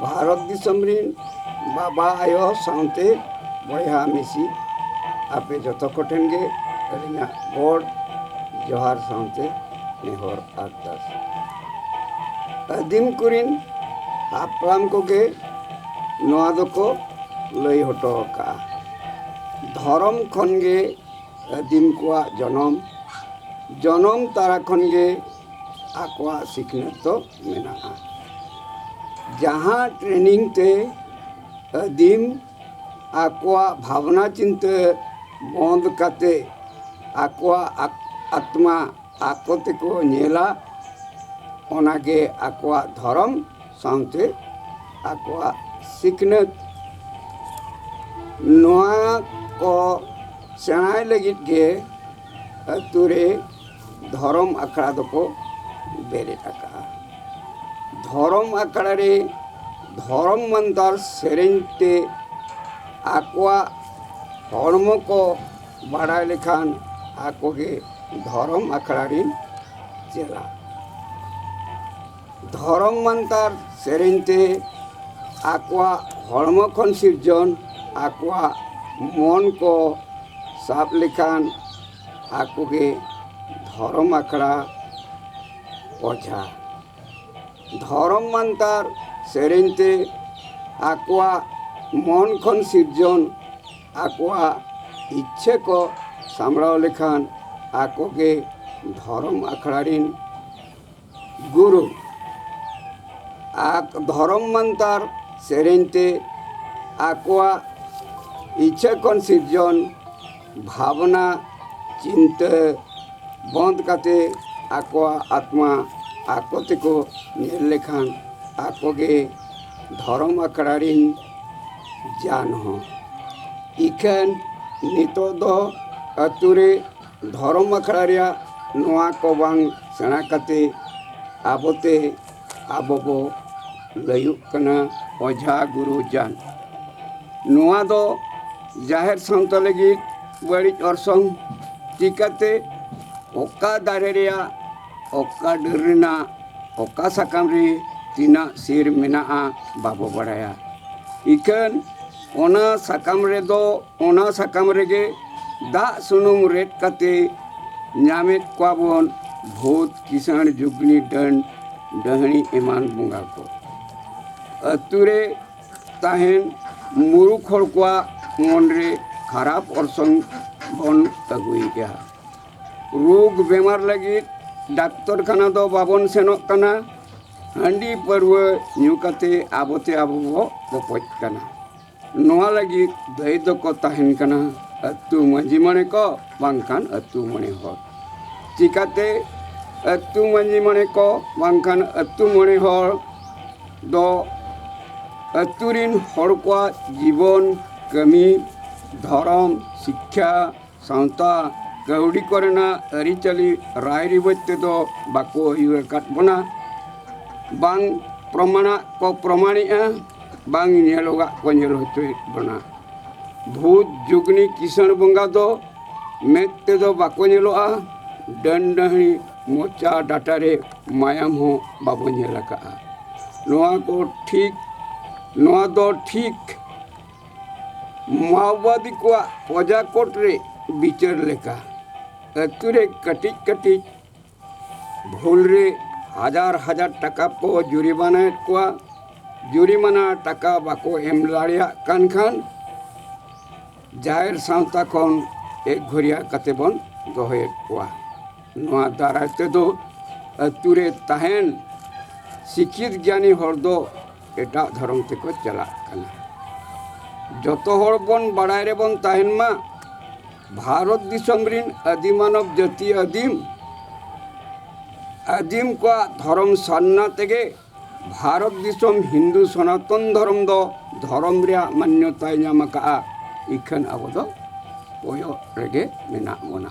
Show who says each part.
Speaker 1: ᱵᱷᱟᱨᱚᱛ ᱫᱤᱥᱚᱢ ᱨᱮᱱ ᱵᱟᱵᱟ ᱟᱭᱳ ᱥᱟᱶᱛᱮ ᱵᱚᱭᱦᱟ ᱢᱤᱥᱤ ᱟᱯᱮ ᱡᱚᱛᱚ ᱠᱚᱴᱷᱮᱱ ᱜᱮ ᱟᱹᱞᱤᱧᱟᱜ ᱜᱚᱰ ᱡᱚᱦᱟᱨ ᱥᱟᱶᱛᱮ ᱱᱮᱦᱚᱨ ᱟᱨᱫᱟᱥ ᱟᱹᱫᱤᱢ ᱠᱚᱨᱮᱱ ᱦᱟᱯᱲᱟᱢ ᱠᱚᱜᱮ ᱱᱚᱣᱟ ᱫᱚᱠᱚ ᱞᱟᱹᱭ ᱦᱚᱴᱚ ᱟᱠᱟᱫᱼᱟ ᱫᱷᱚᱨᱚᱢ ᱠᱷᱚᱱ ᱜᱮ ᱟᱹᱫᱤᱢ ᱠᱚᱣᱟᱜ ᱡᱚᱱᱚᱢ ᱡᱚᱱᱚᱢ ᱛᱟᱨᱟ ᱠᱷᱚᱱ ᱜᱮ ᱟᱠᱚᱣᱟᱜ ᱥᱤᱠᱷᱱᱟᱹᱛ ᱫᱚ ᱢᱮᱱᱟᱜᱼᱟ ᱡᱟᱦᱟᱸ ᱴᱨᱮᱱᱤᱝ ᱛᱮ ᱟᱹᱫᱤᱢ ᱟᱠᱚᱣᱟᱜ ᱵᱷᱟᱵᱽᱱᱟ ᱪᱤᱱᱛᱟᱹ ᱵᱚᱸᱫᱽ ᱠᱟᱛᱮ ᱟᱠᱚᱣᱟᱜ ᱟᱛᱢᱟ ᱟᱠᱚ ᱛᱮᱠᱚ ᱧᱮᱞᱟ ᱚᱱᱟ ᱜᱮ ᱟᱠᱚᱣᱟᱜ ᱫᱷᱚᱨᱚᱢ ᱥᱟᱶᱛᱮ ᱟᱠᱚᱣᱟᱜ ᱥᱤᱠᱷᱱᱟᱹᱛ ᱱᱚᱣᱟ ᱠᱚ ᱥᱮᱬᱟᱭ ᱞᱟᱹᱜᱤᱫ ᱜᱮ ᱟᱛᱳ ᱨᱮ ᱫᱷᱚᱨᱚᱢ ᱟᱠᱷᱲᱟ ᱫᱚᱠᱚ ᱵᱮᱨᱮᱫ ᱟᱠᱟᱫᱼᱟ ᱫᱷᱚᱨᱚᱢ ᱟᱠᱷᱲᱟ ᱨᱮ ᱫᱷᱚᱨᱚᱢ ᱢᱟᱱᱛᱟᱨ ᱥᱮᱨᱮᱧ ᱛᱮ ᱟᱠᱚᱣᱟᱜ ᱦᱚᱲᱢᱚ ᱠᱚ ᱵᱟᱲᱟᱭ ᱞᱮᱠᱷᱟᱱ ᱟᱠᱚ ᱜᱮ ᱫᱷᱚᱨᱚᱢ ᱟᱠᱷᱲᱟ ᱨᱤᱱ ᱪᱮᱞᱟ ᱫᱷᱚᱨᱚᱢ ᱢᱟᱱᱛᱟᱨ ᱥᱮᱨᱮᱧ ᱛᱮ ᱟᱠᱚᱣᱟᱜ ᱦᱚᱲᱢᱚ ᱠᱷᱚᱱ ᱥᱤᱨᱡᱚᱱ ᱟᱠᱚᱣᱟᱜ ᱢᱚᱱ ᱠᱚ ᱥᱟᱵ ᱞᱮᱠᱷᱟᱱ ᱟᱠᱚ ᱜᱮ ᱫᱷᱚᱨᱚᱢ ᱟᱠᱷᱲᱟ ᱚᱡᱷᱟ ᱫᱷᱚᱨᱚᱢ ᱢᱟᱱᱛᱟᱨ ᱥᱮᱨᱮᱧ ᱛᱮ ᱟᱠᱚᱣᱟᱜ ᱢᱚᱱ ᱠᱷᱚᱱ ᱥᱤᱨᱡᱚᱱ ᱟᱠᱚᱣᱟᱜ ᱤᱪᱪᱷᱟᱹ ᱠᱚ ᱥᱟᱢᱵᱽᱲᱟᱣ ᱞᱮᱠᱷᱟᱱ ᱟᱠᱚ ᱜᱮ ᱫᱷᱚᱨᱚᱢ ᱟᱠᱷᱲᱟ ᱨᱮᱱ ᱜᱩᱨᱩ ᱟᱠ ᱫᱷᱚᱨᱚᱢ ᱢᱟᱱᱛᱟᱨ ᱥᱮᱨᱮᱧ ᱛᱮ ᱟᱠᱚᱣᱟᱜ ᱤᱪᱷᱟᱹ ᱠᱷᱚᱱ ᱥᱤᱨᱡᱚᱱ ᱵᱷᱟᱵᱽᱱᱟ ᱪᱤᱱᱛᱟᱹ ᱵᱚᱱᱫ ᱠᱟᱛᱮ ᱟᱠᱚᱣᱟᱜ ᱟᱛᱢᱟ ᱟᱠᱚ ᱛᱮᱠᱚ ᱧᱮᱞ ᱞᱮᱠᱷᱟᱱ ᱟᱠᱚ ᱜᱮ ᱫᱷᱚᱨᱚᱢ ᱟᱠᱷᱲᱟ ᱨᱤᱱ ᱡᱟᱱ ᱦᱚᱸ ᱤᱠᱷᱟᱹᱱ ᱱᱤᱛᱚᱜ ᱫᱚ ᱟᱛᱳ ᱨᱮ ᱫᱷᱚᱨᱚᱢ ᱟᱠᱷᱲᱟ ᱨᱮᱭᱟᱜ ᱱᱚᱣᱟ ᱠᱚ ᱵᱟᱝ ᱥᱮᱬᱟ ᱠᱟᱛᱮ ᱟᱵᱚ ᱛᱮ ᱟᱵᱚ ᱵᱚ ᱞᱟᱹᱭᱚᱜ ᱠᱟᱱᱟ ᱚᱡᱷᱟ ᱜᱩᱨᱩ ᱡᱟᱱ ᱱᱚᱣᱟ ᱫᱚ ᱡᱟᱦᱮᱨ ᱥᱟᱶᱛᱟ ᱞᱟᱹᱜᱤᱫ ᱵᱟᱹᱲᱤᱡ ᱚᱨᱥᱚᱝ ᱪᱤᱠᱟᱹᱛᱮ ᱚᱠᱟ ᱫᱟᱨᱮ ᱨᱮᱭᱟᱜ ᱚᱠᱟ ᱰᱟᱹᱨ ᱨᱮᱱᱟᱜ ᱚᱠᱟ ᱥᱟᱠᱟᱢ ᱨᱮ ᱛᱤᱱᱟᱹᱜ ᱥᱤᱨ ᱢᱮᱱᱟᱜᱼᱟ ᱵᱟᱵᱚ ᱵᱟᱲᱟᱭᱟ ᱤᱠᱷᱟᱹᱱ ᱚᱱᱟ ᱥᱟᱠᱟᱢ ᱨᱮᱫᱚ ᱚᱱᱟ ᱥᱟᱠᱟᱢ ᱨᱮᱜᱮ ᱫᱟᱜ ᱥᱩᱱᱩᱢ ᱨᱮᱫ ᱠᱟᱛᱮ ᱧᱟᱢᱮᱫ ᱠᱚᱣᱟ ᱵᱚᱱ ᱵᱷᱩᱛ ᱠᱤᱥᱟᱹᱬ ᱡᱩᱜᱽᱱᱤ ᱰᱟᱹᱱ ᱰᱟᱹᱦᱟᱹᱱᱤ ᱮᱢᱟᱱ ᱵᱚᱸᱜᱟ ᱠᱚ ᱟᱹᱛᱩ ᱨᱮ ᱛᱟᱦᱮᱱ ᱢᱩᱨᱩᱠ ᱦᱚᱲ ᱠᱚᱣᱟᱜ ᱢᱚᱱ ᱨᱮ ᱠᱷᱟᱨᱟᱯ ᱚᱨᱥᱚᱝ ᱵᱚᱱ ᱟᱹᱜᱩᱭᱮᱫᱼᱟ ᱨᱳᱜᱽ ᱵᱮᱢᱟᱨ ᱞᱟᱹᱜᱤᱫ ᱰᱟᱠᱛᱚᱨ ᱠᱷᱟᱱᱟ ᱫᱚ ᱵᱟᱵᱚᱱ ᱥᱮᱱᱚᱜ ᱠᱟᱱᱟ ᱦᱟᱺᱰᱤ ᱯᱟᱹᱨᱣᱟᱹ ᱧᱩ ᱠᱟᱛᱮ ᱟᱵᱚᱛᱮ ᱟᱵᱚ ᱵᱚ ᱵᱚᱯᱚᱡ ᱠᱟᱱᱟ ᱱᱚᱣᱟ ᱞᱟᱹᱜᱤᱫ ᱫᱟᱹᱭ ᱫᱚᱠᱚ ᱛᱟᱦᱮᱱ ᱠᱟᱱᱟ ᱟᱹᱛᱩ ᱢᱟᱺᱡᱷᱤ ᱢᱚᱬᱮ ᱠᱚ ᱵᱟᱝᱠᱷᱟᱱ ᱟᱹᱛᱩ ᱢᱚᱬᱮ ᱦᱚᱲ ᱪᱤᱠᱟᱹᱛᱮ ᱟᱹᱛᱩ ᱢᱟᱺᱡᱷᱤ ᱢᱚᱬᱮ ᱠᱚ ᱵᱟᱝᱠᱷᱟᱱ ᱟᱹᱛᱩ ᱢᱚᱬᱮ ᱦᱚᱲ ᱫᱚ ᱟᱹᱛᱩ ᱨᱤᱱ ᱦᱚᱲ ᱠᱚᱣᱟᱜ ᱡᱤᱵᱚᱱ ᱠᱟᱹᱢᱤ ᱫᱷᱚᱨᱚᱢ ᱥᱤᱠᱠᱷᱟ ᱥᱟᱶᱛᱟ ᱠᱟᱹᱣᱰᱤ ᱠᱚᱨᱮᱱᱟᱜ ᱟᱹᱨᱤᱪᱟᱹᱞᱤ ᱨᱟᱭ ᱨᱤᱣᱟᱹᱡᱽ ᱛᱮᱫᱚ ᱵᱟᱠᱚ ᱤᱭᱟᱹ ᱟᱠᱟᱫ ᱵᱚᱱᱟ ᱵᱟᱝ ᱯᱨᱚᱢᱟᱱᱟᱜ ᱠᱚ ᱯᱨᱚᱢᱟᱱᱮᱜᱼᱟ ᱵᱟᱝ ᱧᱮᱞᱚᱜᱟᱜ ᱠᱚ ᱧᱮᱞ ᱦᱚᱪᱚᱭᱮᱫ ᱵᱚᱱᱟ ᱵᱷᱩᱛ ᱡᱩᱜᱽᱱᱤ ᱠᱤᱥᱟᱹᱬ ᱵᱚᱸᱜᱟ ᱫᱚ ᱢᱮᱫ ᱛᱮᱫᱚ ᱵᱟᱠᱚ ᱧᱮᱞᱚᱜᱼᱟ ᱰᱟᱹᱱ ᱰᱟᱹᱦᱤ ᱢᱚᱪᱟ ᱰᱟᱴᱟ ᱨᱮ ᱢᱟᱭᱟᱢ ᱦᱚᱸ ᱵᱟᱵᱚ ᱧᱮᱞ ᱟᱠᱟᱫᱼᱟ ᱱᱚᱣᱟ ᱠᱚ ᱴᱷᱤᱠ ᱱᱚᱣᱟ ᱫᱚ ᱴᱷᱤᱠ ᱢᱟᱣᱵᱟᱫᱤ ᱠᱚᱣᱟᱜ ᱯᱨᱚᱡᱟ ᱠᱳᱨᱴ ᱨᱮ ᱵᱤᱪᱟᱹᱨ ᱞᱮᱠᱟ ᱟᱹᱛᱩ ᱨᱮ ᱠᱟᱹᱴᱤᱡ ᱠᱟᱹᱴᱤᱡ ᱵᱷᱩᱞ ᱨᱮ ᱦᱟᱡᱟᱨ ᱦᱟᱡᱟᱨ ᱴᱟᱠᱟ ᱠᱚ ᱡᱩᱨᱤᱢᱟᱱᱟᱭᱮᱫ ᱠᱚᱣᱟ ᱡᱩᱨᱤᱢᱟᱱᱟ ᱴᱟᱠᱟ ᱵᱟᱠᱚ ᱮᱢ ᱫᱟᱲᱮᱭᱟᱜ ᱠᱟᱱ ᱠᱷᱟᱱ ᱡᱟᱦᱮᱨ ᱥᱟᱶᱛᱟ ᱠᱷᱚᱱ ᱮᱠ ᱜᱷᱩᱨᱤᱭᱟ ᱠᱟᱛᱮ ᱵᱚᱱ ᱫᱚᱦᱚᱭᱮᱫ ᱠᱚᱣᱟ ᱱᱚᱣᱟ ᱫᱟᱨᱟᱭ ᱛᱮᱫᱚ ᱟᱹᱛᱩ ᱨᱮ ᱛᱟᱦᱮᱱ ᱥᱤᱠᱠᱷᱤᱛ ᱜᱮᱭᱟᱱᱤ ᱦᱚᱲ ᱫᱚ ᱮᱴᱟᱜ ᱫᱷᱚᱨᱚᱢ ᱛᱮᱠᱚ ᱪᱟᱞᱟᱜ ᱠᱟᱱᱟ ᱡᱚᱛᱚ ᱦᱚᱲ ᱵᱚᱱ ᱵᱟᱲᱟᱭ ᱨᱮᱵᱚᱱ ᱛᱟᱦᱮᱱ ᱢᱟ ᱵᱷᱟᱨᱚᱛ ᱫᱤᱥᱚᱢ ᱨᱤᱱ ᱟᱹᱫᱤ ᱢᱟᱱᱚᱵ ᱡᱟᱹᱛᱤ ᱟᱹᱫᱤᱢ ᱟᱹᱫᱤᱢ ᱠᱚᱣᱟᱜ ᱫᱷᱚᱨᱚᱢ ᱥᱟᱨᱱᱟ ᱛᱮᱜᱮ ᱵᱷᱟᱨᱚᱛ ᱫᱤᱥᱚᱢ ᱦᱤᱱᱫᱩ ᱥᱚᱱᱟᱛᱚᱱ ᱫᱷᱚᱨᱚᱢ ᱫᱚ ᱫᱷᱚᱨᱚᱢ ᱨᱮᱭᱟᱜ ᱢᱟᱱᱭᱚᱛᱟᱭ ᱧᱟᱢ ᱟᱠᱟᱫᱼᱟ ᱤᱠᱷᱟᱹᱱ ᱟᱵᱚ ᱫᱚ ᱠᱚᱭᱚᱜ ᱨᱮᱜᱮ ᱢᱮᱱᱟᱜ ᱵᱚᱱᱟ